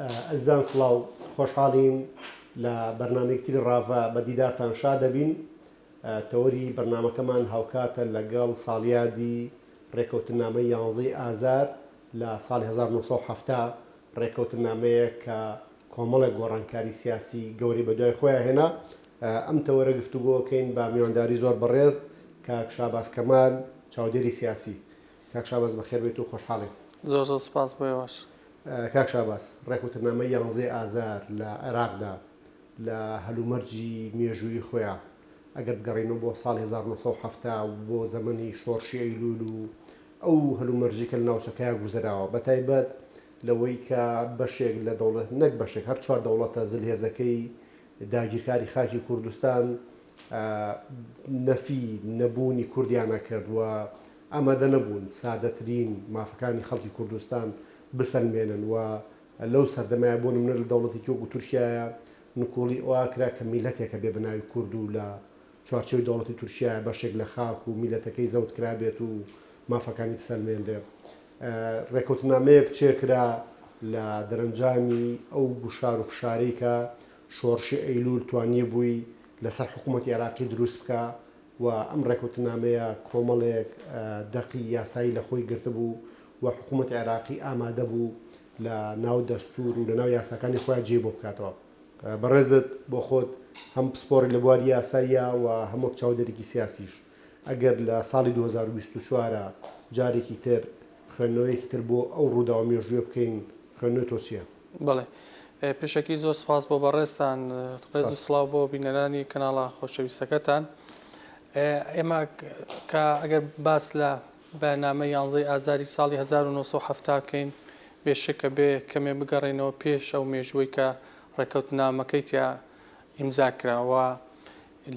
ئەزیزان سڵاو خۆشحاڵین لە بەرنامەیەکی تری ڕاڤە بە دیدارتان شاد ئەبین تەوەری بەرنامەکەمان هاوکاتە لەگەڵ ساڵیادی ڕێکەوتنامەی یانزەی ئازار لە ساڵی هەزار و نۆ سەد و حەفتا ڕێکەوتنامەیەک کە کۆمەڵێک گۆڕانکاری سیاسی گەورەی بە دوای خۆیا هێنا ئەم تەوەرە گفتوگۆکەین بە میوانداری زۆر بەڕێز کاک شاباز کەمال چاودێری سیاسی کاک شاباز بەخێر بێیت و خۆشحاڵین. زۆر زۆر سوپاس بۆ ئێوەش. کاک شاباز، ڕێک و ترنامەی یانزەی ئازار لە عێراقدا لە هەلومەرجی مێژوویی خۆیا ئەگەر بگەڕێینەوە بۆ ساڵی هەزار و نۆ سەد و حەفتا و بۆ زەمەنی شۆڕشی ئەیلوول و ئەو هەلومەرجەی کە لە ناوچەکەیا گوزەراوە بە تایبەت لەوەی کە بەشێک لە دەوڵەت نەک بەشێک هەر چوار دەوڵەتە زلهێزەکەی داگیرکاری خاکی کوردستان نەفی نەبوونی کوردیان ئەکرد و ئامادە نەبوون سادەترین مافەکانی خەڵکی کوردستان بسەلمێنن و لەو سەردەمەیا بۆ نمونە لە دەوڵەتێکی وەکو تورکیایا نکوڵی ئەوا کرا کە میلەتێکە بێ بەناوی کورد و لە چوارچێوەی دەوڵەتی تورکیایا بەشێک لە خاک و میلەتەکەی زەوت کرابێت و مافەکانی بسەلمێنرێ رێکەوتنامەیەک بچێ کرا لە دەرەنجامی ئەو گوشار و فشارەی کە شۆڕشی ئەیلول توانیبووی لەسەر حکومەتی عێراقی دروست بکا و ئەم ڕێکەوتنامەیە کۆمەڵێک دەقی یاسایی لە خۆی گرتبوو و حکوومەتی عێراقی ئامادە بوو لە ناو دەستوور و لە ناو یاساکانی خۆیان جێی بۆ بکاتەوە. بەڕێزت بۆ خۆت هەم پسپۆڕی لە بواری یاساییە و هەم وەک چاودێرێکی سیاسیش ئەگەر لە ساڵی دوو هەزار و بیست و چوار ە جارێکی تر خوێندنەوەیەکی تر بۆ ئەو ڕووداوە مێژوویە بکەین، خوێندنەوەی تۆ چییە؟ بەڵێ پێشەکی زۆر سپاس بۆ بەڕێزتان ڕێز و سڵاو بۆ بینەرانی کەناڵە خۆشەویستەکەتان ئێمە کە ئەگەر باس لە بەنامە یانزەی ئازاری ساڵی 1970 کەین بێشکە بێ کەمێ بگەڕێنەوە پێش ئەو مێژووی کە ڕێکەوت نامەکەی تیا ئیمزا کراوە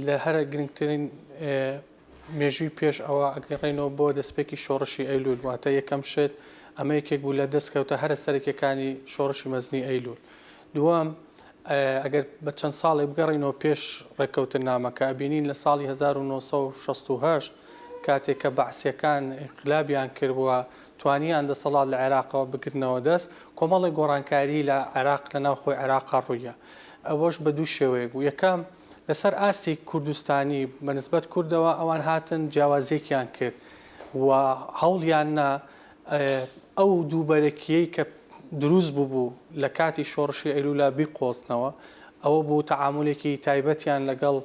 لە هەرە گرنگترین مێژووی پێش ئەوە ئەگەڕێینەوە بۆ دەستپێکی شۆڕشی ئەیلول، واتە یەکەم شت ئەمە یەکێک بوو لە دەستکەوتە هەرە سەرەکیەکانی شۆڕشی مەزنی ئەیلول. دووەم ئەگەر بە چەند ساڵێ بگەڕێینەوە پێش ڕێککەوتننامەکە ئەبینین لە ساڵی 1968 کاتێک کە بەعسیەکان ئینقلابیان کرد و توانیان دەسەڵات لە عێراقەوە بگرنەوە دەست، کۆمەڵێک گۆڕانکاری لە عێراق لە ناوخۆی عێراقا ڕوویە. ئەوەش بە دوو شێوەیەک بوو، یەکەم، لەسەر ئاستی کوردستانی بە نسبەت کوردەوە ئەوان هاتن جیاوازیەکیان کرد و هەوڵیاننا ئەو دووبەرەکیەی کە دروست ببوو لە کاتی شۆڕشی ئەیلولا بیقۆزنەوە ئەوە بوو تەعامولێکی تایبەتیان لەگەڵ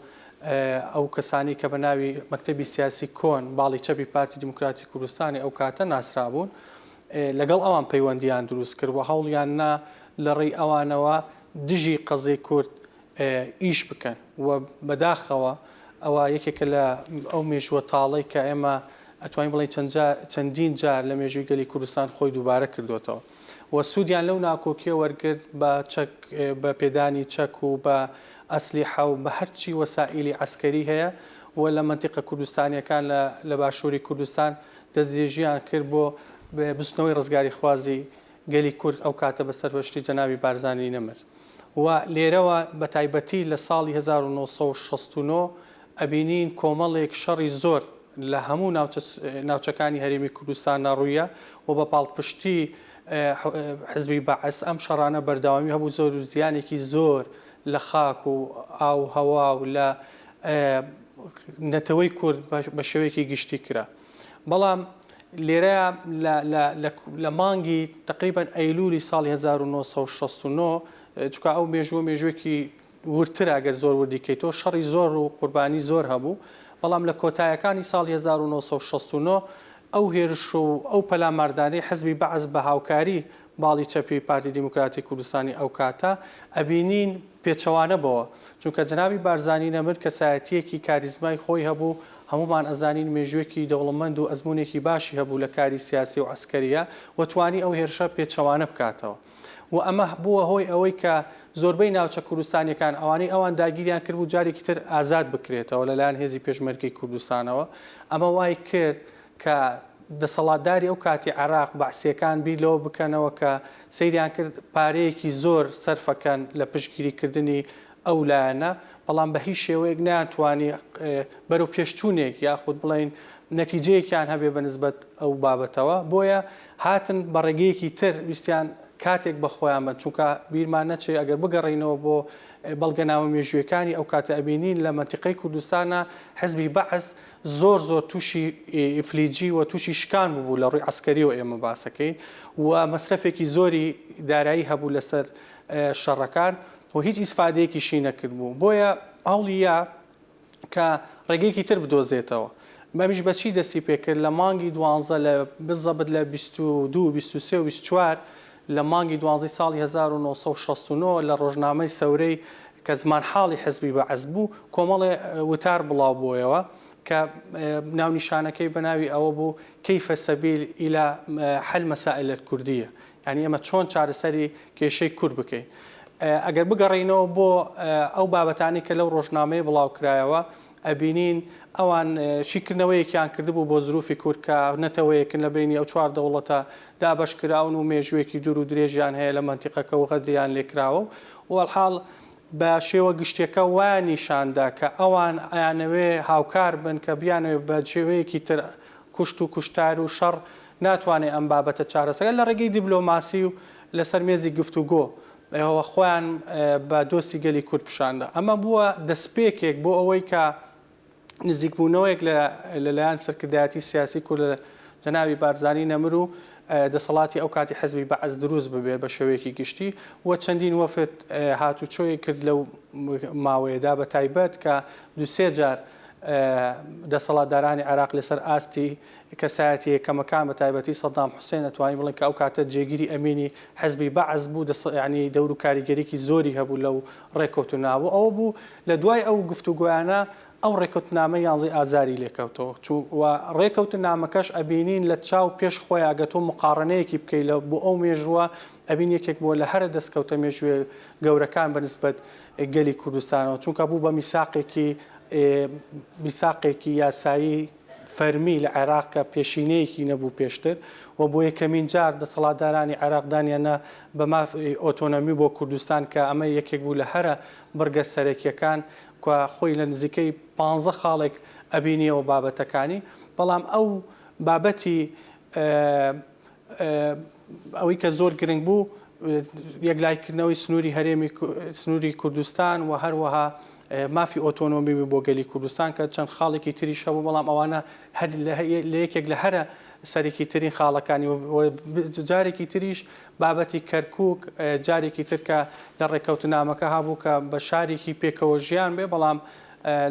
ئەو کەسانی کە بە ناوی مەکتەبی سیاسی کۆن باڵی چەپی پارتی دیموکراتی کوردستانی ئەو کاتە ناسرابوون لەگەڵ ئەوان پەیوەندیان دروست کرد و هەوڵیان نا لە ڕێی ئەوانەوە دژی قەزی کورد ئیش بکەن و بەداخەوە ئەوە یەکێکە لە ئەو مێژووە تاڵەی کە ئێمە ئەتوانین بڵێین چەند جار چەندین جار لە مێژووی گەلی کوردستان خۆی دووبارە کردۆتەوە و سوودیان لەو ناکۆکیە وەرگرت بە چەک بە پێدانی چەک و بە ئەسلیحە و بە هەرچی وەسائیلی عەسکەری هەیە و لە مەنتیقە کوردستانیەکان لە لە باشووری کوردستان دەستدرێژیان کرد بۆ بستنەوەی ڕزگاریخوازی گەلی کورد ئەو کاتە بەسەر هۆشتی جەنابی بارزانی نەمر. و لێرەوە بە تایبەتی لە ساڵی هەزار و نۆ سەد و شەست و نۆ ئەبینین کۆمەڵێک شەڕی زۆر لە هەموو ناوچە ناوچەکانی هەرێمی کوردستاندا ڕوویە و بە پاڵپشتی حزبی بەعس ئەم شەڕانە بەردەوامی هەبوو زۆر و زیانێکی زۆر لە خاک و ئاو و هەوا و لە نەتەوەی کورد بە شێوەیەکی گشتی کرا. بەڵام لێرەیا لە لە لە لە مانگی تەقریبەن ئەیلوولی ساڵی هەزار و نۆ سەد و شەست و نۆ چونکە ئەو مێژووە مێژووێکی وردترە گەر زۆر وردی کەیتەوە شەڕی زۆر و قوربانی زۆر هەبوو بەڵام لە کۆتایەکانی ساڵی هەزار و نۆ سەد و شەست و نۆ ئەو هێرش و ئەو پەلاماردانەی حزبی بەعس بە هاوکاری باڵی چەپی پارتی دیموکراتی کوردستانی ئەو کاتە ئەبینین پێچەوانە بۆوە چونکە جەنابی بارزانی نەمر کەسایەتیەکی کاریزمای خۆی هەبوو هەموومان ئەزانین مێژوێکی دەوڵەمەند و ئەزمونێکی باشی هەبوو لە کاری سیاسی و عەسکەریە و توانی ئەو هێرشە پێچەوانە بکاتەوە و ئەمە بووە هۆی ئەوەی کە زۆربەی ناوچە کوردستانیەکان ئەوانەی ئەوان داگیریان کردبوو جارێکی تر ئازاد بکرێتەوە لەلایەن هێزی پێشمەرگەی کوردستانەوە ئەمە وای کرد کە دەسەڵاتداری ئەو کاتی عێراق، بەعسییەکان بیر لەوە بکەنەوە کە سەیریان کرد پارەیەکی زۆر سەرفەکەن لە پشتگیریکردنی ئەو لایەنە، بەڵام بە هیچ شێوەیەک نەیانتوانی بەرەو پێشچوونێک یاخود بڵێین نەتیجەیەکیان هەبێ بە نسبەت ئەو بابەتەوە، بۆیە هاتن بە ڕێگەیەکی تر ویستیان کاتێک بە خۆیان بەن، چونکە بیرمان نەچێ ئەگەر بگەڕێینەوە بۆ بەڵگەنامە مێژوویەکانی ئەو کاتە ئەبینین لە مەنتیقەی کوردستانا حزبی بەعس زۆر زۆر تووشی ئیفلیجی و تووشی شکان ببوو لە ڕووی عەسکەریەوە ئێمە باسەکەین و مەسرەفێکی زۆری دارایی هەبوو لەسەر شەڕەکان و هیچ ئیسفادەیەکیشی نەکردبوو بۆیە هەوڵیە کە ڕێگەیەکی تر بدۆزێتەوە مەمیش بەچی دەستی پێکرد لە مانگی دوانزە لە بزەبت لە بیست و دوو بیست و سێ و بیست چوار لە مانگی دوانزەی ساڵی هەزار و نۆ سەد و شەست و نۆ لە ڕۆژنامەی سەورەی کە زمانحاڵی حزبی بەعس بوو، کۆمەڵێ وتار بڵاو بۆیەوە کە ناونیشانەکەی بە ناوی ئەوە بوو، کیف سبیل الی حل مسائل الکردیە، یانی ئێمە چۆن چارەسەری کێشەی کورد بکەین. ئەگەر بگەڕێینەوە بۆ ئەو بابەتانەی کە لەو ڕۆژنامەیە بڵاو کرایەوە، ئەبینین ئەوان شیکردنەوەیەکیان کردبوو بۆ زروفی کورد کە نەتەوەیەکن لە بەینی ئەو چوار دەوڵەتە دابەش کراون و مێژووێکی دوور و درێژیان هەیە لە مەنتیقەکە و غەدریان لێ کراوە و وەڵحاڵ بە شێوە گشتیەکە وایان نیشان دا کە ئەوان ئەیانەوێ هاوکار بن کە بیانەوێ بە شێوەیەکی تر کوشت و کوشتار و شەڕ ناتوانێ ئەم بابەتە چارەسەر لە ڕێگەی دیبلۆماسی و لە سەر مێزی گفتوگۆ و خۆیان بە دۆستی گەلی کورد پیشاندا. ئەمە بووە دەسپێکێک بۆ ئەوەی کە نزیکبوونەوەیەک لە لەلایەن سەرکردایەتی سیاسی کورد لە جەنابی بارزانی نەمر و دەسەڵاتی ئەو کاتی حزبی بەعس دروست ببێت بە شێوەیەکی گشتی و چەندین وەفد هاتوچۆی کرد لەو ماوەیەدا بە تایبەت کە دوو سێ جار دەسەڵاتدارانی عێراق لەسەر ئاستی کەسایەتیە یەکەمەکان بە تایبەتی سەدام حوسێن ئەتوانین بڵێن کە ئەو کاتە جێگیری ئەمینی حزبی بەعس بوو دەست یانی دەور و کاریگەریکی زۆری هەبوو لەو ڕێکەوتنە بۆ ئەوە بوو لە دوای ئەو گفتوگۆیانە ئەو ڕێکەوتنامە یانزەی ئازاری لێ کەوتەوە چوو وە ڕێکەوتن نامەکەش ئەبینین لە چاو پێش خۆیا گە تۆ مقاڕنەیەکی بکەی لە بۆ ئەو مێژووە ئەبین یەکێک بۆ لە هەرە دەستکەوتە مێژووێ گەورەکان بە نسبەت گەلی کوردستانەوە چونکە بوو بە میساقێکی ێ میساقێکی یاسایی فەرمی لە عێراق کە پێشینەیەکی نەبوو پێشتر و بۆ یەکەمین جار دەسەڵاتدارانی عێراق دانیاننا بە مافی ئۆتۆنۆمی بۆ کوردستان کە ئەمە یەکێک بوو لە هەرە بڕگە سەرەکییەکان کە خۆی لە نزیکەی پانزە خاڵێک ئەبینییەوە بابەتەکانی بەڵام ئەو بابەتی ئەوەی کە زۆر گرنگ بوو یەکلاییکردنەوەی سنووری هەرێمی سنووری کوردستان و هەروەها مافی ئۆتۆنۆمی بۆ گەلی کوردستان کە چەند خاڵێکی تریش هەبوو بەڵام ئەوانە هەر لە یەکێک لە هەرە سەرێکی ترین خاڵەکانی جارێکی تریش بابەتی کەرکک جارێکی ترکە لە ڕێککەوتنامەکە هابوو کە بە شارێکی پێکەوە ژیان بێ بەڵام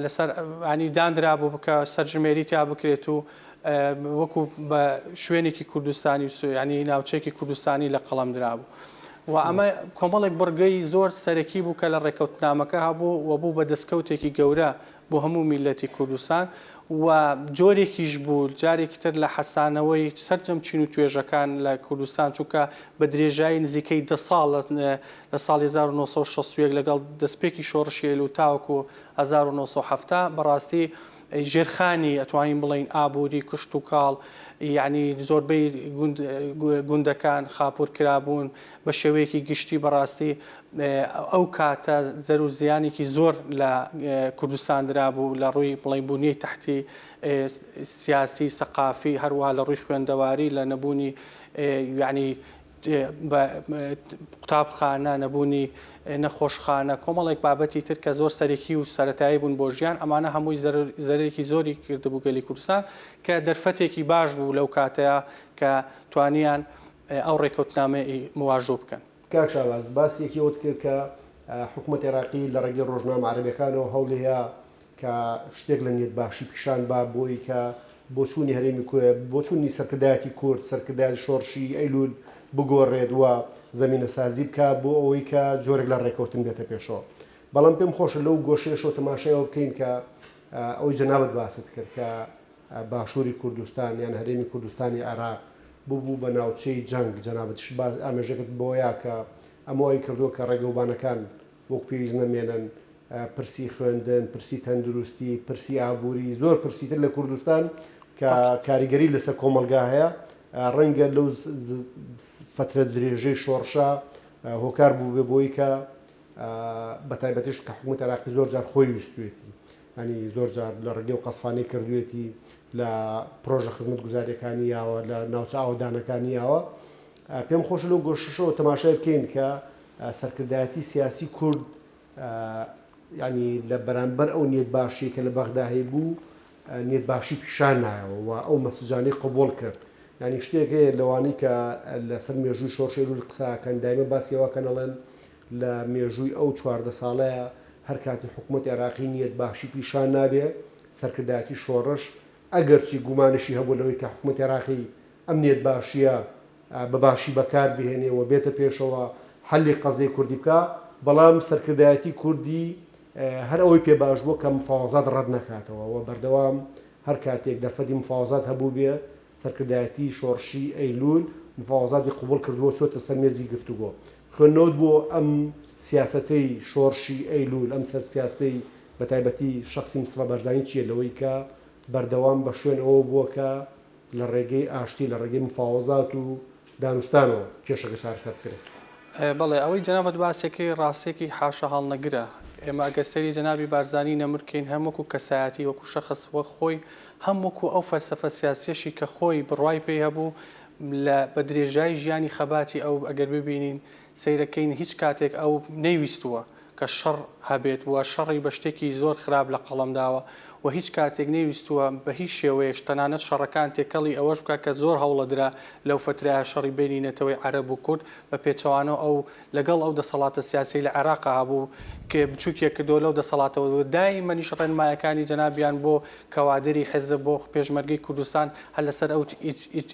لەسەر انی دانرابوو کە سەرژمێری تیا بکرێت و وەکو بە شوێنێکی کوردستانی و سوێنی ناوچەیەکی کوردستانی لە قەڵەم درابوو و ئەمە کۆمەڵێک بڕگەی زۆر سەرەکی بوو کە لە ڕێکەوتنامەکە هەبوو و بوو بە دەستکەوتێکی گەورە بۆ هەموو میلەتی کوردستان و جۆرێکیش بوو جارێکی تر لە حەسانەوەی سەرجەم چین و توێژەکان لە کوردستان چونکە بە درێژایی نزیکەی دە ساڵ لە ساڵی هەزار و نۆ سەد و شەست و یەک لەگەڵ دەستپێکی شۆڕشی ئەیلوول تاوەکو هەزار و نۆ سەد و حەفتا بەڕاستی ژێرخانی ئەتوانین بڵێین ئابووری کشتوکاڵ یانی زۆربەی گوندەکان خاپوور کرابوون بە شێوەیەکی گشتی بەڕاستی ئەو کاتە زەر و زیانێکی زۆر لە کوردستان درابوو لە ڕووی بڵێن بوونیەی تحتی سیاسی سەقافی هەروە لە ڕووی خوێندەواری لە نەبوونی یانی قوتابخانە، نەبوونی نەخۆشخانە، کۆمەڵێک بابەتی تر کە زۆر سەرەکی و سەرەتایی بوون بۆ ژیان، ئەمانە هەمووی زەرەرێکی زۆری کردبوو گەلی کوردستان، کە دەرفەتێکی باش بوو لەو کاتەیا کە توانیان ئەو ڕێکەوتنامەی واژۆ بکەن. کاک شاباز، باسی یەکێ وت کرد کە حکومەتی عێراقی لە ڕێگەی ڕۆژنامە عەرەبیەکانەوە هەوڵیە کە شتێک لە نیەت باشی پیشان با بۆی کە بۆچوونی هەرێمی کو بۆچوونی سەرکردایەتی کورد، سەرکردایەتی شۆڕشی ئەیلول بگۆڕێت و زەمینەسازی بکا بۆ ئەوەی کە جۆرێک لە ڕێکەوتن بێتە پێشەوە. بەڵام پێم خۆشە لەو گۆشەیەشەوە تەماشای ئەوە بکەین کە ئەوەی جەنابت باست کرد کە باشووری کوردستان یان هەرێمی کوردستانی عێراق ببوو بە ناوچەی جەنگ، جەنابتیش ئامێژەکەت بەوەیا کە ئەمە وای کردووە کە ڕێگەوبانەکان وەک پێویست نەمێنن، پرسی خوێندن، پرسی تەندروستی، پرسی ئابووری، زۆر پرسی تر لە کوردستان کە کاریگەری لەسەر کۆمەڵگا هەیە، ڕەنگە لەو فەترە درێژەی شۆڕشە هۆکار بووبێ بۆی کە بە تایبەتیش کە حکومەت عراقی زۆر جار خۆی ویستوێتی ئەنی زۆر جار لە ڕێگەی و قەسفانەی کردوێتی لە پرۆژە خزمەت گوزارەکانی یاوە لە ناوچە ئاوەدانەکانی یاوە پێم خۆش لەو گۆششەوە تەماشای بکەین کە سەرکردایەتی سیاسی کورد یانی لە بەرامبەر ئەو نیەت باشیەی کە لە بەغدا هەیبوو نیەت باشی پیشان نایەوە و ئەو مەسجانەی قبوڵ کرد یانی شتێک هەیە لەوانی کە لەسەر مێژووی شۆرشی لول قساکەن دایمە باسیەوەکەن ئەڵێن لە مێژووی ئەو چواردە ساڵەیە هەر کاتی حکوومەت عێراقی نیەت باشی پیشان نابێ سەرکردایەتی شۆڕش ئەگەرچی گومانیشی هەبوو لەوەی کە حکوومەت عێراقی ئەم نیەت باشیە بەباشی بەکار بهێنێ و بێتە پێشەوە حەلی قەزیەی کوردی بکا، بەڵام سەرکردایەتی کوردی هەر ئەوەی پێ باش بووە کە مفاوەزات ڕەت نەکاتەوە و بەردەوام هەر کاتێک دەرفەتی مفاوەزات هەبووبێ، سەرکردایەتی شۆڕشی ئەیلوول مفاوەزاتی قبووڵ کردووە و چۆتە سەر مێزی گفتوگۆ. خوێندنەوەت بۆ ئەم سیاسەتەی شۆڕشی ئەیلوول، ئەم سەر سیاستەی بەتایبەتی شەخسی مستەفا بارزانی چییە لەوەی کە بەردەوام بە شوێن ئەوە بووە کە، لە ڕێگەی ئاشتی، لە ڕێگەی مفاوەزات و دانوستانەوە کێشەکە چارەسەر بکرێت. بەڵێ، ئەوەی جەنابت باسیەکەی ڕاستیەکی حاشاهەڵنەگرە، ئێمە ئەگەر سەیری جەنابی بارزانی نەمر کەین هەم وەکو کەسایەتی وەکو شەخس وەک خۆی هەم وەکو ئەو فەلسەفە سیاسیەشی کە خۆی بڕوای پێی هەبوو لە بە درێژایی ژیانی خەباتی ئەو ئەگەر ببینین سەیرەکەین هیچ کاتێک ئەو نەیویستووە کە شەڕ هەبێت و شەڕی بە شتێکی زۆر خراپ لە قەڵەم داوە و هیچ کاتێک نەیویستووە بە هیچ شێوەیەکش تەنانەت شەڕەکان تێکەڵی ئەوەش بکات کە زۆر هەوڵە درا لەو فەترەیە شەڕی بەینی نەتەوەی عەرەب و کورد بە پێچەوانەوە ئەو لەگەڵ ئەو دەسەڵاتە سیاسیەی لە عێراقا هەبوو کێ بچووکیە کردووە لەو دەسەڵاتەوە و دایمەنیش ڕێنمایەکانی جەنابیان بۆ کەوادری حیزب بۆ پێشمەرگەی کوردستان هەر لەسەر ئەو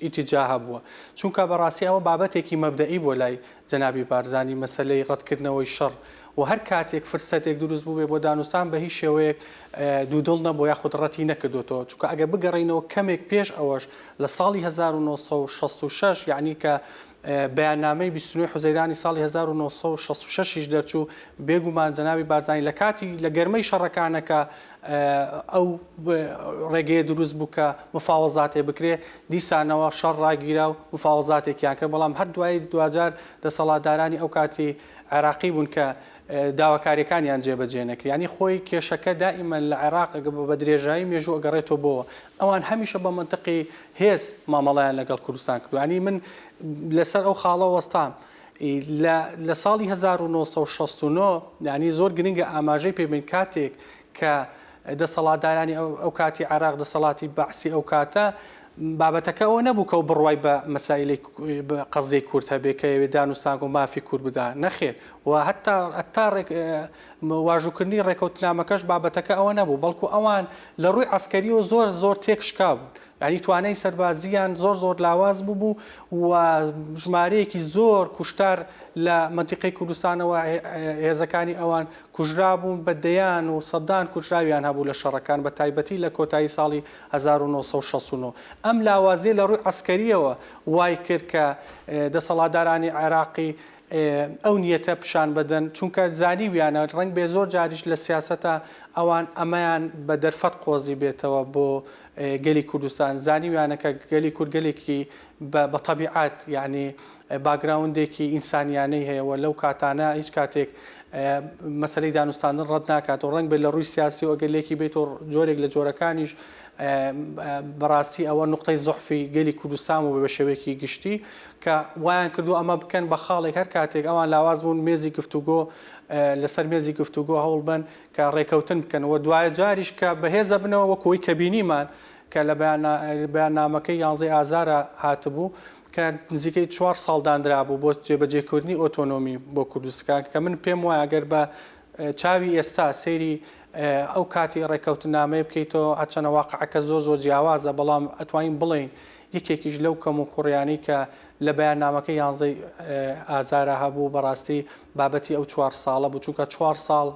ئیتیجاهە بووە چونکە بە ڕاستی ئەوە بابەتێکی مەبدەئی بووە لای جەنابی بارزانی مەسەلەی ڕەتکردنەوەی شەڕ و هەر کاتێک فرسەتێک دروست بووبێ بۆ دانوستان بە هیچ شێوەیەک دوودڵ نەبووە یاخود ڕەتی نەکردۆتەوە چونکە ئەگەر بگەڕێینەوە کەمێک پێش ئەوەش لە ساڵی هەزار و نۆ سەد و شەست و شەش یەعنی کە بەیاننامەی بیست و نۆی حوزەیرانی ساڵی هەزار و نۆ سەد و شەست و شەش یش دەرچوو بێگومان جەنابی بارزانی لە کاتی لە گەرمەی شەڕەکانەکە ئەو ڕێگەیە دروست بوو کە مفاوەزاتێ بکرێ، دیسانەوە شەڕ ڕاگیرا و مفاوەزاتێکیان کرد، بەڵام هەر دوایی دواجار دەسەڵاتدارانی ئەو کاتی عێراقی بوون کە داواکارییەکانیان جێبەجێ نەکرد، یانی خۆی کێشەکە دائیمەن لە عێراق بە درێژایی مێژوو ئەگەڕێتەوە بۆوە، ئەوان هەمیشە بە مەنتقی هێز مامەڵەیان لەگەڵ کوردستان کردووە، یانی من لەسەر ئەو خاڵە وەستام ی لە لە ساڵی هەزار و نۆ سەد و شەست و نۆ یانی زۆر گرنگە ئاماژەی پێ بەین کاتێک کە دەسەڵاتدارانی ئەو کاتی عێراق دەسەڵاتی بەعسی ئەو کاتە بابەتەکە ئەوە نەبوو کە بڕوای بە مەسایلی قەزیەی کورد هەبێ کە یەوێ دانوستانگە و مافی کورد بدا نەخێر و هەتا هەتا واژووکردنی ڕێکەوتنامەکەش بابەتەکە ئەوە نەبوو بەڵکو ئەوان لە ڕووی عسکەریەوە زۆر زۆر تێکشکا بوون یانی توانای سەربازییان زۆر زۆر لاواز بووبوو و ژمارەیەکی زۆر کوشتار لە مەنتیقەی کوردستانەوە هێزەکانی ئەوان کوژرابوون بە دەیان و سەدان کوژراویان هەبوو لە شەڕەکان بە تایبەتی لە کۆتایی ساڵی هەزار و نۆ سەد و شەست و نۆ ئەم لاوازیە لە ڕووی عەسکەرییەوە وایکرد کە دەسەڵاتدارانی عێراقی ئەو نیەتە پشان بەدەن چونکە زانیویانە ڕەنگ بێ زۆر جاریش لە سیاسەتا ئەوان ئەمەیان بە دەرفەت قۆزی بێتەوە بۆ گەلی کوردستان زانیویانە کە گەلی کورد گەلێکی بە تەبیعات یعنی باگراوندێکی ئینسانیانەی هەیە و لەو کاتانە هیچ کاتێک مەسلەی دانوستاندن ڕەت ناکات و ڕەنگ بێت لە ڕووی سیاسی و ئەگەر لێکی بیت و جۆرێک لە جۆرەکانیش بەڕاستی ئەوە نقطەی زحفی گەلی کوردستان و بە شێوەیەکی گشتی کە وایان کردووە ئەمە بکەن بە خاڵێک هەر کاتێک ئەوان لاواز بوون مێزی گفتوگۆ لەسەر مێزی گفتوگۆ هەوڵ بەن کە ڕێکەوتن بکەن و دوایە جاریش کە بەهێزە بنەوە وەکو ئەوەی کە بینیمان کە لە بەیاننامەکەی یانزەی ئازارا هاتبوو کە نزیکەی چوار ساڵ داندرابوو بۆ جێبەجێکردنی ئۆتۆنۆمی بۆ کوردستان کە من پێم وایە گەر بە چاوی ئێستا سەیری ئەو کاتی ڕێکەوتنامەیە بکەیتەوە هەرچەنە واقعەکە زۆر زۆر جیاوازە بەڵام ئەتوانین بڵێین یەکێکیش لەو کەم و کوڕیانەی کە لە بەیاننامەکەی یانزەی ئازارا هەبوو بەڕاستی بابەتی ئەو چوار ساڵە بوو، چونکە چوار ساڵ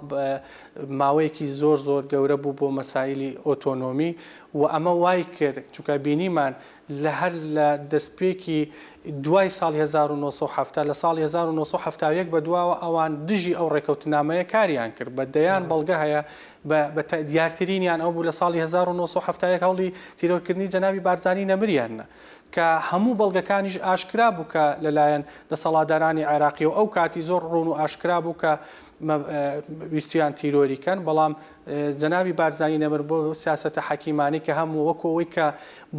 ماوەیەکی زۆر زۆر گەورە بوو بۆ مەسایلی ئۆتۆنۆمی و ئەمە وای کرد چونکە بینیمان لە هەر لە دەستپێکی دوای ساڵی هەزار و نۆ سەد و حەفتا لە ساڵی هەزار و نۆ سەد و حەفتا و یەک بەدواوە ئەوان دژی ئەو ڕێکەوتنامەیە کاریان کرد بە دەیان بەڵگە هەیە بە بە تە دیارترینیان ئەو بوو لە ساڵی هەزار و نۆ سەد و حەفتا و یەک هەوڵی تیرۆرکردنی جەنابی بارزانی نەمریان نا کە هەموو بەڵگەکانیش ئاشکرا بوو کە لە لایەن دەسەڵاتدارانی عێراقیەوە ئەو کاتی زۆر ڕوون و ئاشکرا بوو کە مە ویستویان تیرۆری کەن بەڵام جەنابی بارزانی نەمر بۆ سیاسەتە حەکیمانی کە هەموو وەکۆ ئەوەی کە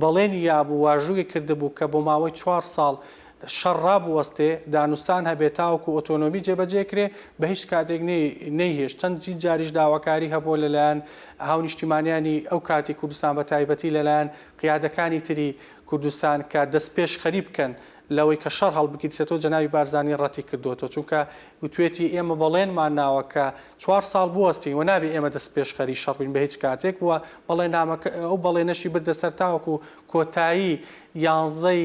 بەڵێنی یابوو واژووی کردبوو کە بۆ ماوەی چوار ساڵ شەڕ ڕابوەستێ، دانوستان هەبێ تاوەکو ئۆتۆنۆمی جێبەجێ کرێ، بە هیچ کاتێک نەیهێشت، چەندین جاریش داواکاری هەبووە لە لایەن هاونیشتیمانیانی ئەو کاتی کوردستان بە تایبەتی لە لایەن قیادەکانی تری کوردستان کە دەستپێشخەری بکەن لەوەی کە شەڕ هەڵبگیرسێتەوە جەنابی بارزانی ڕەتی کردۆتەوە چونکە وتوێتی ئێمە بەڵێنمان ناوە کە چوار ساڵ بوەستین و نابێ ئێمە دەستپێشخەری شەڕ بین بە هیچ کاتێک و بەڵێنامەکە ئەو بەڵێنەشی بردە سەر تاوەکو کۆتایی یانزەی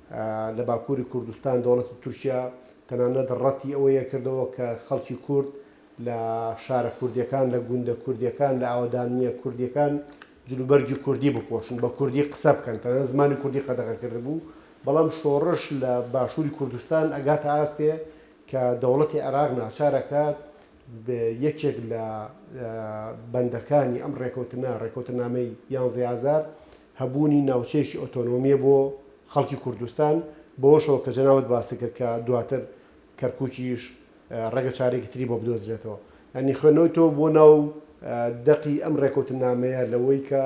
لە باکووری کوردستان دەوڵەتی تورکیا تەنانەت ڕەتی ئەوەیە کردەوە کە خەڵکی کورد لە شارە کوردییەکان، لە گوندە کوردییەکان، لە ئاوەدانییە کوردییەکان جلوبەرگی کوردی بپۆشن، بە کوردی قسە بکەن، تەنانەت زمانی کوردی قەدەغە کردبوو، بەڵام شۆڕش لە باشووری کوردستان ئەگاتە ئاستێ کە دەوڵەتی عێراق ناچار ئەکات یەکێک لە بەندەکانی ئەم ڕێکەوتنە، ڕێکەوتنامەی یانزەی ئازار، هەبوونی ناوچەیەکی ئۆتۆنۆمییە بۆ خەڵکی کوردستان، بەوەشەوە کە جەنابت باست کرد کە دواتر کەرکووکیش ڕەنگە چارێکی تری بۆ بدۆزرێتەوە. یانی خوێندنەوەی تۆ بۆ ناو دەقی ئەم ڕێکەوتننامەیە لەوەی کە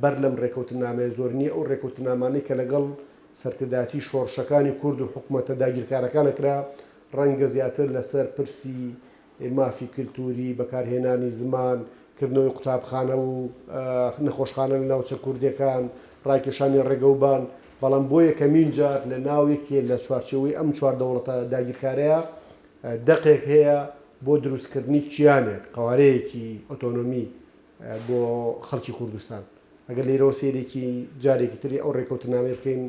بەر لەم ڕێکەوتننامەیە زۆر نییە، ئەو ڕێکەوتننامانەی کە لەگەڵ سەرکردایەتی شۆڕشەکانی کورد و حکومەتە داگیرکارەکانە کرا، ڕەنگە زیاتر لەسەر پرسی مافی کلتوری، بەکارهێنانی زمان، کردنەوەی قوتابخانە و نەخۆشخانە لە ناوچە کوردێکان، ڕاکێشانی ڕێگەوبان، بەڵام بۆ یەکەمین جار لە ناو یەکێ لە چوارچێوەی ئەم چوار دەوڵەتە داگیرکارەیا دەقێک هەیە بۆ دروستکردنی کیانێک، قەوارەیەکی ئۆتۆنۆمی بۆ خەڵکی کوردستان. ئەگەر لێرەوە سەیرێکی جارێکی تری ئەو ڕێکەوتنامەی بکەین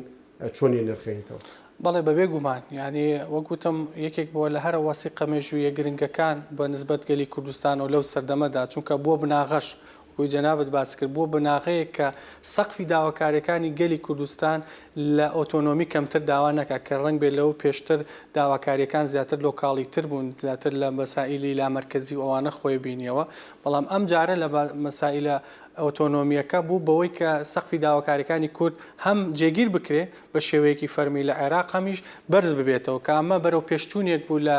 چۆن یەنرخێنیتەوە؟ بەڵێ بەبێ گومان یانی وەک وتم یەکێک بووە لە هەرە وەسیقە مێژوویە گرنگەکان بە نسبەت گەلی کوردستانەوە لەو سەردەمەدا چونکە بووە بناغەش وەکوی جەنابت باس کرد بووە بناغەیەک کە سەقفی داواکاریەکانی گەلی کوردستان لە ئۆتۆنۆمی کەمتر داوا نەکات کە ڕەنگ بێ لەو پێشتر داواکاریەکان زیاتر لۆکاڵی تر بوون زیاتر لە مەسائیلی لامەرکەزی و ئەوانە خۆی بینیەوە بەڵام ئەم جارە لە مەسائیلە ئۆتۆنۆمییەکە بوو بەوەی کە سەقفی داواکارییەکانی کورد هەم جێگیر بکرێ بە شێوەیەکی فەرمی لە عێراق هەمیش بەرز ببێتەوە کە ئەمە بەرەو پێشچوونێک بوو لە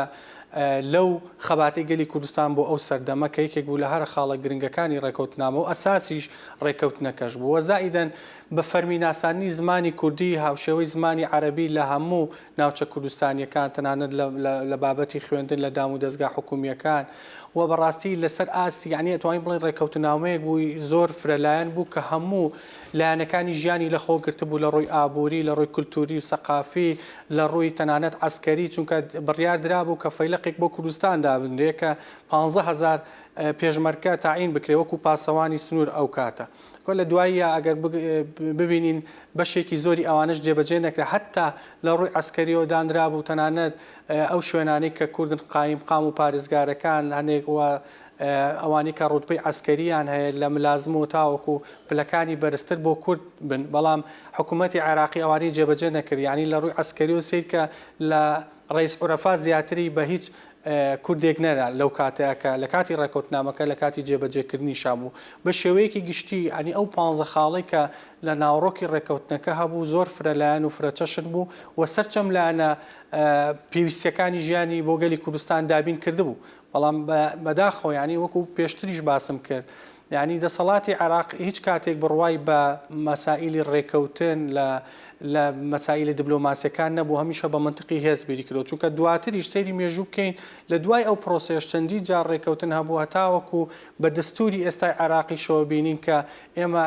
لەو خەباتی گەلی کوردستان بۆ ئەو سەردەمە کە یەکێک بوو لە هەرە خاڵە گرنگەکانی ڕێکەوتنامە و ئەساسیش ڕێکەوتنەکەش بوو وە زائیدەن بە فەرمی ناساندنی زمانی کوردی هاوشێوەی زمانی عەرەبی لە هەموو ناوچە کوردستانییەکان، تەنانەت لە بابەتی خوێندن لە دام و دەزگا حکوومییەکان و بەڕاستی لەسەر ئاستی یانی ئەتوانین بڵێن ڕێککەوتننامەیەک بوو زۆر فرەلایەن بوو کە هەموو لایەنەکانی ژیانی لەخۆ گرتبوو لە ڕووی ئابووری، لە ڕووی کولتووری و سەقافی، لە ڕووی تەنانەت عەسکەری، چونکە بڕیار درابوو کە فەیلەقێک بۆ کوردستان دابنرێ کە پانزە هەزار پێشمەرکە تەعین بکرێ وەکوو پاسەوانی سنوور ئەو کاتە. وە لە دواییا ئەگەر ببینین بەشێکی زۆری ئەوانەش جێبەجێ نەکرا هەتا لە ڕووی عەسکەریەوە دانرابوو تەنانەت ئەو شوێنانەی کە کوردن قایم قام و پارێزگارەکان هەنێک وە ئەوانی کە ڕوتبەی عەسکەریان هەیە لە ملازم و تاوەکو پلەکانی بەرزتر بۆ کورد بن بەڵام حکوومەتی عێراقی ئەوانی جێبەجێ نەکرد یعنی لە ڕووی عەسکەری و سیرکە لە ڕەیس عورەفات زیاتری بە هیچ کوردێک نەرا لەو کاتەیا کە لە کاتی ڕێکەوتنامەکە لە کاتی جێبەجێکردنی شا بوو. بە شێوەیەکی گشتی ئەنی ئەو پانزە خاڵەی کە لە ناوەڕۆکی ڕێکەوتنەکە هەبوو زۆر فرە لایەن و فرە چەشن بوو و سەرچەم لایەنە پێویستیەکانی ژیانی بۆ گەلی کوردستان دابین کردبوو. بەڵام بە بەداخەوە یانی وەکو پێشتریش باسم کرد یانی دەسەڵاتی عێراق هیچ کاتێک بڕوای بە مەسائیلی ڕێکەوتن لە لە مەسائیلە دبلۆماسیەکان نەبوو هەمیشە بە منتقی هێز بیری کردو چونکە دواتریش سەیری مێژوو بکەین لە دوای ئەو پرۆسەیەش چەندی جار ڕێکەوتن هەبوو هەتاوەکو بە دەستوری ئێستای عێراقی شەوە بینین کە ئێمە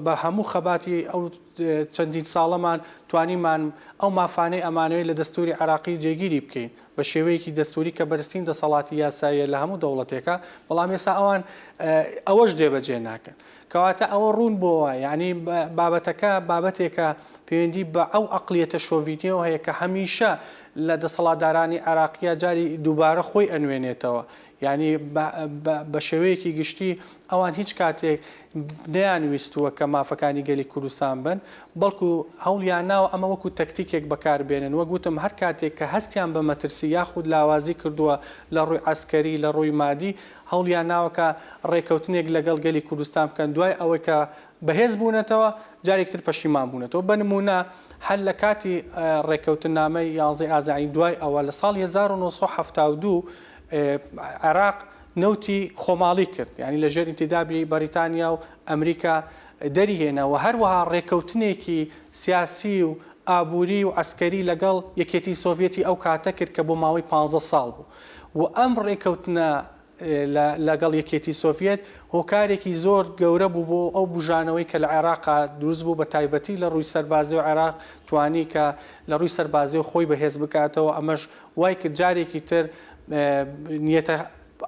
بە هەموو خەباتی ئەو چەندین ساڵەمان توانیمان ئەو مافانەی ئەمانەوەی لە دەستوری عێراقی جێگیری بکەین بە شێوەیەکی دەستووری کە بەرزترین دەسەڵاتی یاساییە لە هەموو دەوڵەتێکا، بەڵام ئێستا ئەوان ئەوەش جێبەجێ ناکەن. کەواتە ئەوە ڕوون بۆوە یانی بابەتەکە بابەتێکە پێوەندی بە ئەو ئەقڵیەتە شۆڤینییەوە هەیە کە هەمیشە لە دەسەڵاتدارانی عێراقیا جاری دووبارە خۆی ئەنوێنێتەوە. یانی بە شێوەیەکی گشتی ئەوان هیچ کاتێک نەیانویستووە کە مافەکانی گەلی کوردستان بن، بەڵکو هەوڵیانناوە ئەمە وەکو تەکتیکێک بەکاربێنن، وەک وتم هەر کاتێک کە هەستیان بە مەترسی یاخود لاوازی کردووە لە ڕووی عەسکەری، لە ڕووی مادی، هەوڵیانناوە کە ڕێککەوتنێک لەگەڵ گەلی کوردستان بکەن، دوای ئەوەی کە بەهێز بوونەتەوە جارێکی تر پەشیمان بوونەتەوە، بە نموونە هەر لە کاتی ڕێککەوتننامەی یانزەی ئازاین دوای ئەوە لە ساڵی هەزار و نۆ سەد و حەفتا و دوو عێراق نەوتی خۆماڵی کرد یانی لەژێر ئینتیدابی بەریتانیا و ئەمریکا دەری هێنا و هەروەها ڕێکەوتنێکی سیاسی و ئابووری و عەسکەری لەگەڵ یەکێتی سۆڤیەتی ئەو کاتە کرد کە بۆ ماوەی پانزە ساڵ بوو و ئەم ڕێکەوتنە لەگەڵ یەکێتی سۆڤیەت هۆکارێکی زۆر گەورە بوو بۆ ئەو بژانەوەی کە لە عێراقا دروست بوو بە تایبەتی لە ڕووی سەربازی و عێراق توانی کە لە ڕووی سەربازی و خۆی بەهێز بکاتەوە ئەمەش وای کرد جارێکی تر نیەتە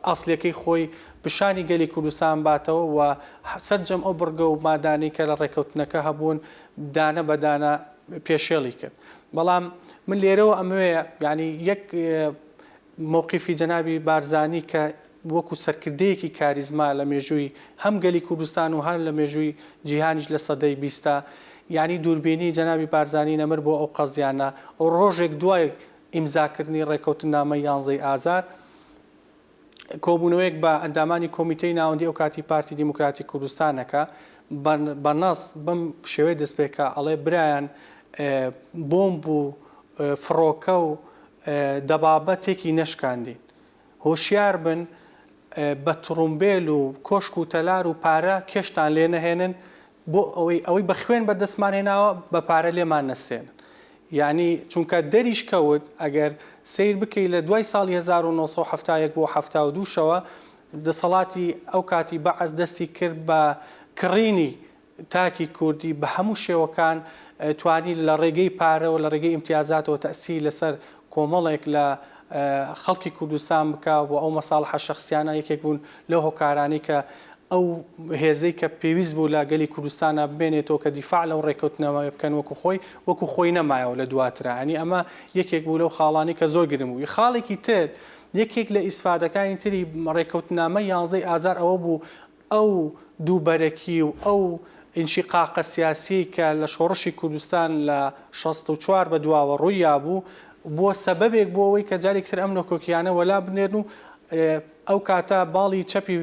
ئەسڵیەکەی خۆی پیشانی گەلی کوردستان باتەوە و سەرجەم ئەو بڕگە و مادانەی کە لە ڕێککەوتنەکە هەبوون دانە بە دانە پێشێڵی کرد بەڵام من لێرەوە ئەمەوێ یعنی یەک مووقیفی جەنابی بارزانی کە وەکو سەرکردەیەکی کاریزما لە مێژووی هەم گەلی کوردستان و هەر لە مێژووی جیهانیش لە سەدەی بیستە یانی دووربینی جەنابی بارزانی نەمر بۆ ئەو قەزیانە و ڕۆژێک دوای ئیمزاکردنی ڕێکەوتننامەی یانزەی ئازار کۆبوونەوەیەک بە ئەندامانی کۆمیتەی ناوەندی ئەو کاتی پارتی دیموکراتی کوردستانەکە بە بە نەس بەم شێوەیە دەست پێکا ئەڵێ برایان بۆمب و فڕۆکە و دەبابە تێکی نەشکاندین هۆشیار بن بە تڕومبێل و کۆشک و تەلار و پارە کێشتان لێ نەهێنن بۆ ئەوەی ئەوەی بە خوێن بە دەستمان هێناوە بە پارە لێمان نەستێنن یانی چونکە دەریش کەوت ئەگەر سیر بکەی لە دوای ساڵی هەزار و نۆ سەد و حەفتا و یەک بۆ حەفتا و دوو شەوە دەسەڵاتی ئەو کاتی بەعس دەستی کرد بە کڕینی تاکی کوردی بە هەموو شێوەکان توانی لە ڕێگەی پارەوە، لە ڕێگەی ئیمتیازاتەوە تەئسیری لەسەر کۆمەڵێک لە خەڵکی کوردستان بکا و ئەو مەساڵحە شەخسیانە یەکێک بوون لەو هۆکارانەی کە ئەو هێزەی کە پێویست بوو لە گەلی کوردستانا بمێنێتەوە کە دیفاع لەو ڕێکەوتنەوە بکەن وەکوو خۆی، وەکوو خۆی نەمایەوە لە دواترا. یانی ئەمە یەکێک بوو لەو خاڵانەی کە زۆر گرنگ بوو. خاڵێکی تر، یەکێک لە ئیسفادەکانی تری ڕێکەوتنامەی یانزدەی ئازار ئەوە بوو، ئەو دووبەرەکی و ئەو ئینشیقاقە سیاسییەی کە لە شۆڕشی کوردستان لە شەست و چوار بە دواوە ڕوویا بوو، بووە سەبەبێک بۆ ئەوەی کە جارێکی تر ئەم نکۆکییانە وەلا بنێرن و ئەو کاتە باڵی چەپی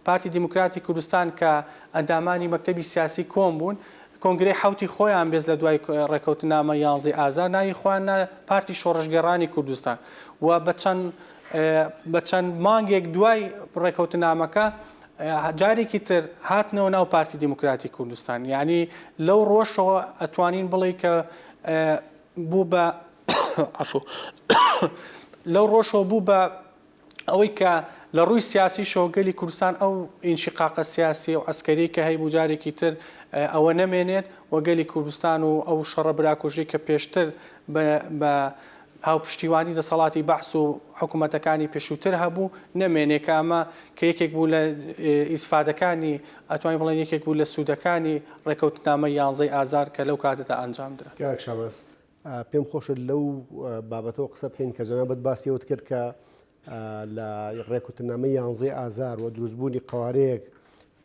پارتی دیموکراتی کوردستان کە ئەندامانی مەکتەبی سیاسی کۆم بوون، کۆنگرەی حەوتی خۆیان بێز لە دوای ڕێکەوتنامە یانزەی ئازار ناوی خۆیان نا پارتی شۆڕشگێڕانی کوردستان و بە چەند بە چەند مانگێک دوای ڕێکەوتنامەکە جارێکی تر هاتنەوە ناو پارتی دیموکراتی کوردستان یعنی لەو ڕۆژەوە ئەتوانین بڵێ کە بوو بە لەو ڕۆژەوە بوو بە ئەوەی کە لە ڕووی سیاسی شۆگەلی کوردستان ئەو ئینشقاقە سیاسی و ئەسکەری کە هەیبوو جارێکی تر ئەوە نەمێنێت وەگەلی کوردستان و ئەو شەڕە براکوژی کە پێشتر بە هاوپشتیوانی دەسەڵاتی بەعس و حکوومەتەکانی پێشووتر هەبوو، نەمێنێ کە ئەمە کە یەکێک بوو لە ئیسفادەکانی، ئەتوانین بڵێن یەکێک بوو لە سوودەکانی ڕێکەوتنامەی یانزەی ئازار کە لەو کاتەدا ئەنجام درا. کاک شاباز، پێم خۆشە لەو بابەتەوە قسە بکەین کە جەنابت باسی ئەوەت کرد کە لە ڕێکوتنامەی یانزەی ئازار و دروستبوونی قەوارەیەک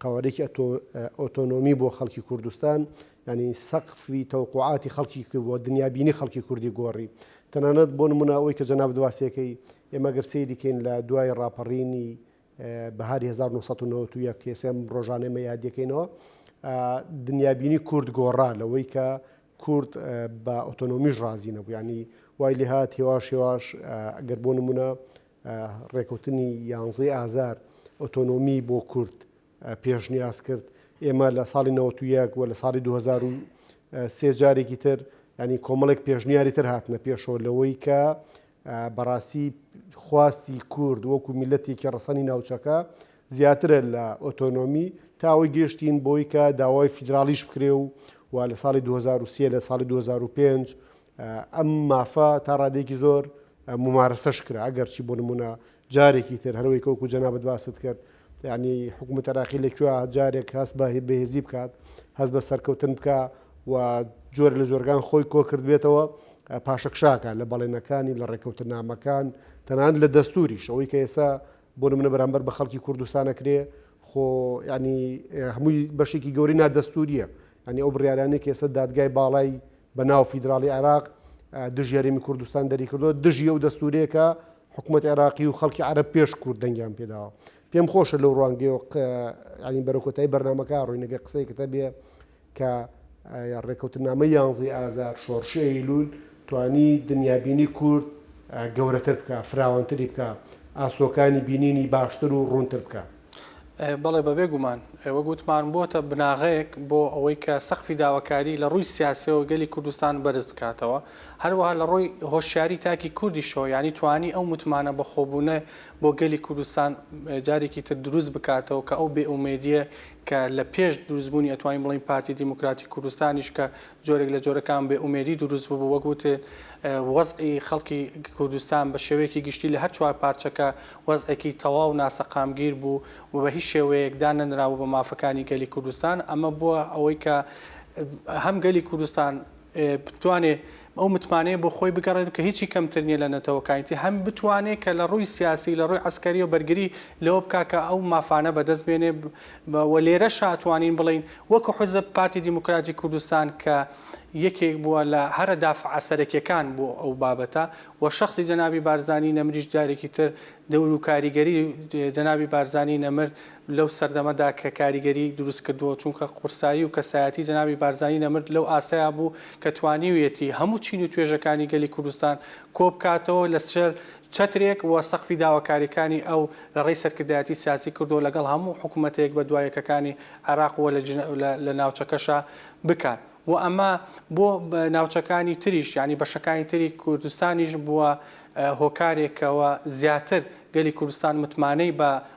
قەوارەیەکی ئۆتۆنۆمی بۆ خەڵکی کوردستان، یانی سەقفی تەوەقوعاتی خەڵکی کرد و دنیابینی خەڵکی کوردی گۆڕی. تەنانەت بۆ نموونە ئەوەی کە جەنابت واسێکەی، ئێمە گەر سەیری کەین لە دوای ڕاپەڕینی بەهاری هەزار و نۆ سەد و نەوەد و یەک، کەئێسێ ئەم ڕۆژانە ئێمە یادی ئەکەینەوە، دنیابینی کورد گۆڕا لەوەی کە کورد بە ئۆتۆنۆمیش ڕازی نەبوو. یانی وای لێهات هێواش هێواش گەر بۆ نموونە ڕێکەوتنی یانزەی ئازار ئۆتۆنۆمی بۆ کورد پێشنیاز کرد، ئێمە لە ساڵی نەوەت و یەک و لە ساڵی دوو هەزار و سێ جارێکی تر ینی کۆمەڵێک پێشنیاری تر هاتنە پێشەوە لەوەی کە بەڕاستی خواستی کورد وەکو میلەتێکی ڕەسەنی ناوچەکە زیاترە لە ئۆتۆنۆمی تاوەی گەشتین بۆی کە داوای فیدراالیش بکرێ و و لە ساڵی 2023 لە ساڵی 2005 ئەم مافە تا ڕادەیەکی زۆر ممارەسەش کرا ئەگەرچی بۆ نمونە جارێکی تر هەروەی کەوکو جەنابەت باست کرد یعنی حکوومەت عراقی لە کوێ جارێک هەست بە بەهێزی بکات هەست بە سەرکەوتن بکە و جۆر لە جۆرگان خۆی کۆ کردبێتەوە پاشەکشاکە لە بەڵێنەکانی لە ڕێککەوتنامەکان تەنان لە دەستوریش ئەوەی کە ئێسا بۆ نمونە بەرامبەر بە خەڵکی کوردستان ئەکرێ خۆ یانی هەمووی بەشێکی گەوری نادەستوریە ینی ئەو بڕارانێک کێسە دادگای باڵای بە ناو فیدراڵی عێراق دژ یاریمی کوردستان دەریکردو دژی ئەو دەستورێکە حکوومەت عێراقی و خەڵکی عرب پێش کورد دەنگیان پێداوە پێم خۆشە لەو ڕوانگەیە ینی بەرەکۆتای بەرنمەکە ڕوینەگە قسەیکتە بێ کە ڕێکەوتنامەی یانزەی ئازار، شۆڕشی ئەیلول توانی دنیابینی کورد گەورەتر بکا، فراوانتری بکا، ئاسۆکانی بینینی باشتر و ڕوونتر بکا. بەڵێ بەبێ گومان. وەک وتمان بۆتە بناغەیەک بۆ ئەوەی کە سەقفی داواکاری لە ڕووی سیاسیەوە گەلی کوردستان بەرز بکاتەوە. هەروەها لە ڕووی هۆشیاری تاکی کوردیشەوە یانی توانی ئەو متمانە بەخۆبوونە بۆ گەلی کوردستان جارێکی تر دروست بکاتەوە کە ئەو بێ ئومێدیە کە لە پێش دروستبوونی ئەتوانین بڵێین پارتی دیموکراتی کوردستانیش کە جۆرێک لە جۆرەکان بێ ئومێدی دروست ببوو وەک وتێ وەزعی خەڵکی کوردستان بە شێوەیەکی گشتی لە هەر چوار پارچەکە وەزعێکی تەواو ناسەقامگیر بوو و بە هیچ شێوەیەک دانەنرابوو بە مافەکانی گەلی کوردستان ئەمە بووە ئەوەی کە هەم گەلی کوردستان بتوانێت ئەو متمانەیە بۆ خۆی بگەڕێنێت کە هیچی کەمتر نییە لە نەتەوەکانی تر، هەم بتوانێت کە لە ڕووی سیاسی، لە ڕووی عەسکەرییەوە بەرگری لەوە بکات کە ئەو مافانە بەدەست بێنێت و لێرەشە ئەتوانین بڵێین وەکو حزب پارتی دیموکراتی کوردستان کە یەکێک بووە لە هەرە دافعە سەرەکیەکان بۆ ئەو بابەتە و شەخسی جەنابی بارزانی نەمریش جارێکی تر دەور و کاریگەری جەنابی بارزانی نەمر لەو سەردەمەدا کە کاریگەریی دروست کردووە، چونکە قورسایی و کەسایەتی جەنابی بارزانی نەمر لەو ئاستەیا بوو کە توانیویەتی هەموو چین و توێژەکانی گەلی کوردستان کۆ بکاتەوە لە ژێر چەترێک و سەقفی داواکارییەکانی ئەو لە ڕێی سەرکردایەتی سیاسی کردووە لەگەڵ هەموو حکوومەتە یەک بە دوا یەکەکانی عێراق و لە ناوچەکەشا بکات و ئەمە بۆ ناوچەکانی تریش یانی بەشەکانی تری کوردستانیش بووە هۆکارێک کەوا زیاتر گەلی کوردستان متمانەی بە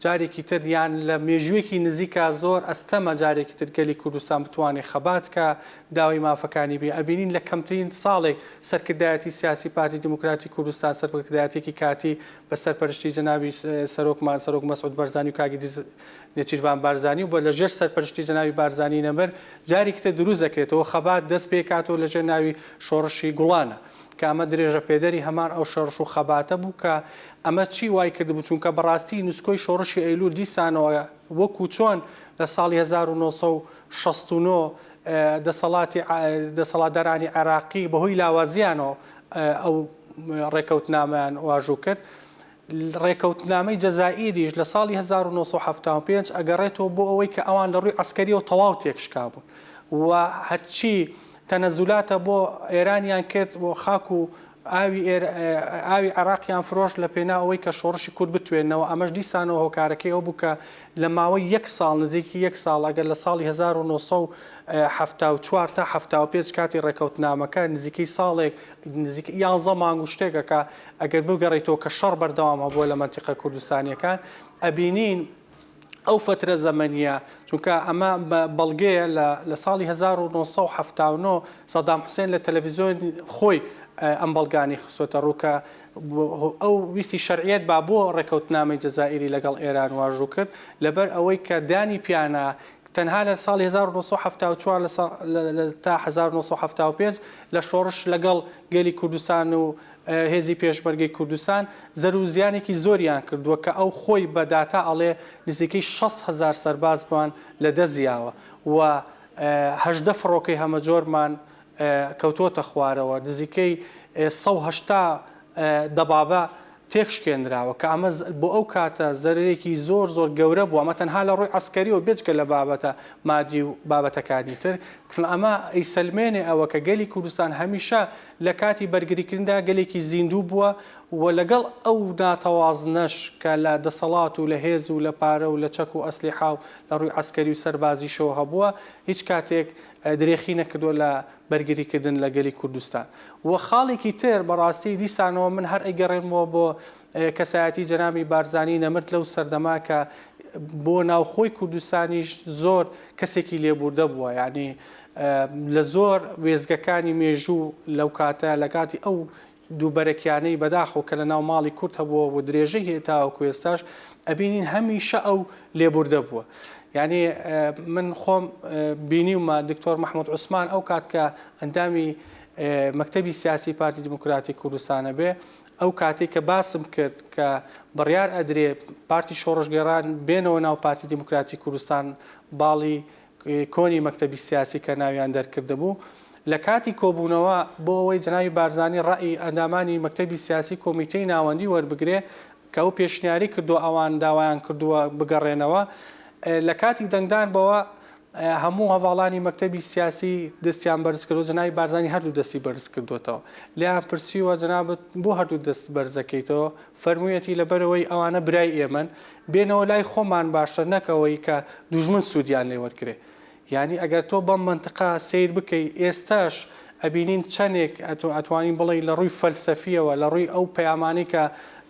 جارێکی تر یان لە مێژووێکی نزیکا زۆر ئەستەمە جارێکی تر گەلی کوردستان بتوانێ خەبات بکا داوای مافەکانی بێ ئەبینین لە کەمترین ساڵێک سەرکردایەتی سیاسی پارتی دیموکراتی کوردستان سەرکردایەتیەکی کاتی بە سەرپەرشتی جەنابی سەرۆکمان سەرۆک مەسعود بەرزانی و کاک ئیدریس نێچیرڤان بارزانی و بە لە ژێر سەرپەرشتی جەنابی بارزانی نەمر جارێکی تر دروست دەکرێتەوە خەبات دەست پێکاتەوە لە ژێر ناوی شۆڕشی گوڵانە کە ئەمە درێژەپێدەری هەمان ئەو شۆڕش و خەباتە بوو کە ئەمە چی وای کردبوو، چونکە بەڕاستی نسکۆی شۆڕشی ئەیلول دیسانەوە وەکو چۆن لە ساڵی هەزار و نۆ سەد و شەست و نۆ دەسەڵاتی دەسەڵاتدارانی عێراقی بەهۆی لاوازییانەوە ئەو ڕێکەوتنامەیان واژوو کرد، ڕێکەوتنامەی جەزائیریش لە ساڵی هەزار و نۆ سەد و حەفتا و پێنج ئەگەڕێتەوە بۆ ئەوەی کە ئەوان لە ڕووی عەسکەرییەوە تەواو تێکشکابوون و هەرچی تەنەزولاتە بۆ ئێرانیان کرد و خاک و ئاوی عێراقیان فرۆشت لە پێناو ئەوەی کە شۆڕشی کورد بتوێنەوە، ئەمەش دیسانەوە هۆکارەکەی ئەو بوو کە لە ماوەی یەک ساڵ، نزیکی یەک ساڵ، ئەگەر لە ساڵی هەزار و نۆ سەد و حەفتا و چوار تا حەفتا و پێنج کاتی ڕێکەوتنامەکە نزیکەی ساڵێک، نزیکەی یانزە مانگ و شتێکەکە، ئەگەر بگەڕێیتەوە کە شەڕ بەردەوام هەبووە لە مەنتیقە کوردستانییەکان، ئەبینین. ئەو فەترە زەمەنییە، چونکە ئەمە بەڵگەیە لە ساڵی هەزار و نۆ سەد و حەفتا و نۆ سەدام حوسێن لە تەلەڤیزیۆن خۆی ئەم بەڵگانەی خستۆتە ڕوو کە ئەو ویستی شەرعیەت با بۆ ڕێکەوتنامەی جەزائیری لەگەڵ ئێران واژوو کرد لەبەر ئەوەی کە دانی پیانا تەنها لە ساڵی 1970 تا 1970 لە شۆڕش لەگەڵ گەلی کوردستان و هێزی پێشمەرگەی کوردستان زەرو و زیانێکی زۆریان کردووە کە ئەو خۆی بە داتا ئەڵێ نزیکەی شەست هەزار سەربازمان لە دەست یاوە و هەژدە فڕۆکەی هەمەجۆرمان کەوتووەتە خوارەوە نزیکەی سەد و هەشتا دەبابە تێک شکێنراوە کە ئەمە بۆ ئەو کاتە زەرەرێکی زۆر زۆر گەورە بووە ئەمە تەنها لە ڕووی عەسکەریەوە بێجگە لە بابەتە مادی و بابەتەکانی تر چون ئەمە ئەیسەلمێنێ ئەوە کە گەلی کوردستان هەمیشە لە کاتی بەرگریکردندا گەلێکی زیندوو بووە و لەگەڵ ئەو ناتەوازنەش کە لە دەسەڵات و لە هێز و لە پارە و لە چەک و ئەسلیحا و لە ڕووی عەسکەری و سەربازیشەوە هەبووە، هیچ کاتێک درێخی نەکردووە لە بەرگریکردن لە گەلی کوردستان و خاڵێکی تر بەڕاستی دیسانەوە من هەر ئەیگەڕێنمەوە بۆ کەسایەتی جەنابی بارزانی نەمرد لەو سەردەمە کە بۆ ناوخۆی کوردستانیش زۆر کەسێکی لێبووردە بووە یانی لە زۆر وێزگەکانی مێژوو لەو کاتە لە کاتی ئەو دووبەرەکیانەی بەداخەوە کە لە ناو ماڵی کورد هەبووە و درێژەی هەیە تاوەکو ئێستاش ئەبینین هەمیشە ئەو لێبووردە بووە یعنی من خۆم بینیومە دکتۆر مححمود عوسمان ئەو کات کە ئەندامی مەکتتەبی سیاسی پارتی دیموکراتی کوردستانە بێ ئەو کاتەی کە باسم کرد کە بڕیار ئەدرێ پارتی شۆڕشگێڕان بێنەوە ناو پارتی دیموکراتی کوردستان باڵی کۆنی مەکتەبی سیاسی کە ناویان دەرکردبوو لە کاتی کۆبوونەوە بۆ ئەوەی جەنابی بارزانی ڕەئی ئەندامانی مەکتەبی سیاسی کۆمیتەی ناوەندی وەربگرێ کە ئەو پێشنیاری کردووە ئەوان داوایان کردووە بگەڕێنەوە لە کاتی دەنگدان بەوە هەموو هەڤاڵانی مەکتەبی سیاسی دەستیان بەرز کردووە، جەنابی بارزانی هەردوو دەستی بەرز کردووەتەوە. لێیان پرسیوە جەنابت بۆ هەردوو دەست بەرز دەکەیتەوە؟ فەرموویەتی لەبەرئەوەی ئەوانە برای ئێمەن، بێنەوە لای خۆمان باشترە نەک ئەوەی کە دوژمن سوودیان لێ وەرگرێ. یانی ئەگەر تۆ بەم مەنتقە سەیر بکەی، ئێستاش ئەبینین چەندێک ئەتوانین بڵێی لە ڕووی فەلسەفییەوە، لە ڕووی ئەو پەیامانەی کە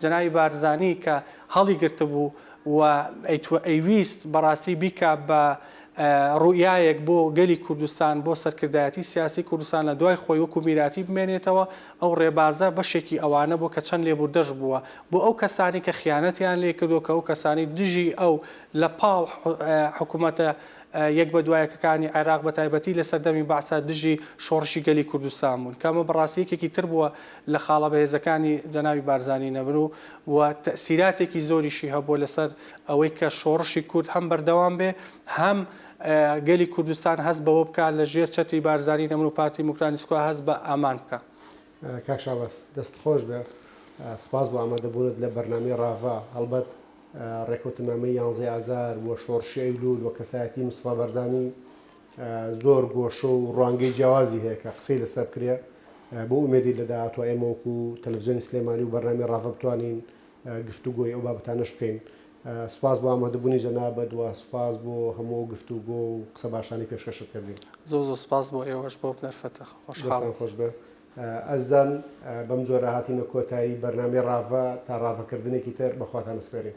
جەنابی بارزانی کە هەڵیگرتبوو، و ئەیویست بەڕاستی بیکا بە ڕوئیایەک بۆ گەلی کوردستان، بۆ سەرکردایەتی سیاسی کوردستان لە دوای خۆی وەکو میراتی بمێنێتەوە، ئەو ڕێبازە بەشێکی ئەوانە بووە کە چەند لێبوردەش بووە بۆ ئەو کەسانی کە خیانەتیان لێ کردووە، کە ئەو کەسانی دژی ئەو لە پاڵ حکومەتە یەک بە دوای یەکەکانی عێراق بە تایبەتی لە سەردەمی بەعسە دژی شۆڕشی گەلی کوردستان بوون، کە ئەمە بەڕاستی یەکێکی تر بووە لە خاڵە بەهێزەکانی جەنابی بارزانی نەبن و و تەئسیراتێکی زۆریشی هەبووە لەسەر ئەوەی کە شۆڕشی کورد هەم بەردەوام بێ هەم گەلی کوردستان هەست بەوە بکا لە ژێر چەتری بارزانی نەبن و پارتی دیموکرانی سکۆ هەست بە ئامان بکا. کاک شاباز دەست خۆش بێ سپاس بۆ ئامادە بوونت لە بەرنامەی ڕاڤە هەڵبەت ڕێکەوتنامەی یانزەی ئازار و شۆڕشی ئەیلول و کەسایەتی مستەفا بارزانی زۆر گۆشە و ڕوانگەی جیاوازی هەیە کە قسەی لەسەر بکرێ، بۆ ئومێدی لە داهاتوا ئێمە وەکو تەلەفزیۆنی سلێمانی و بەرنامەی ڕاڤە بتوانین گفتوگۆی ئەو بابەتانەش بکەین. سوپاس بۆ ئامادەبوونی جەنابت و سوپاس بۆ هەموو ئەو گفتوگۆ و قسە باشانەی پێشکەشت کردین. زۆر زۆر سوپاس بۆ ئێوەش بۆ بنەرفەتە خۆشحاڵم. دەستان خۆش بێ ئەزیزان. بەم جۆرە هاتینە کۆتایی بەرنامەی ڕاڤە تا ڕاڤەکردنێکی تر بەخواتان ئەسپێرین.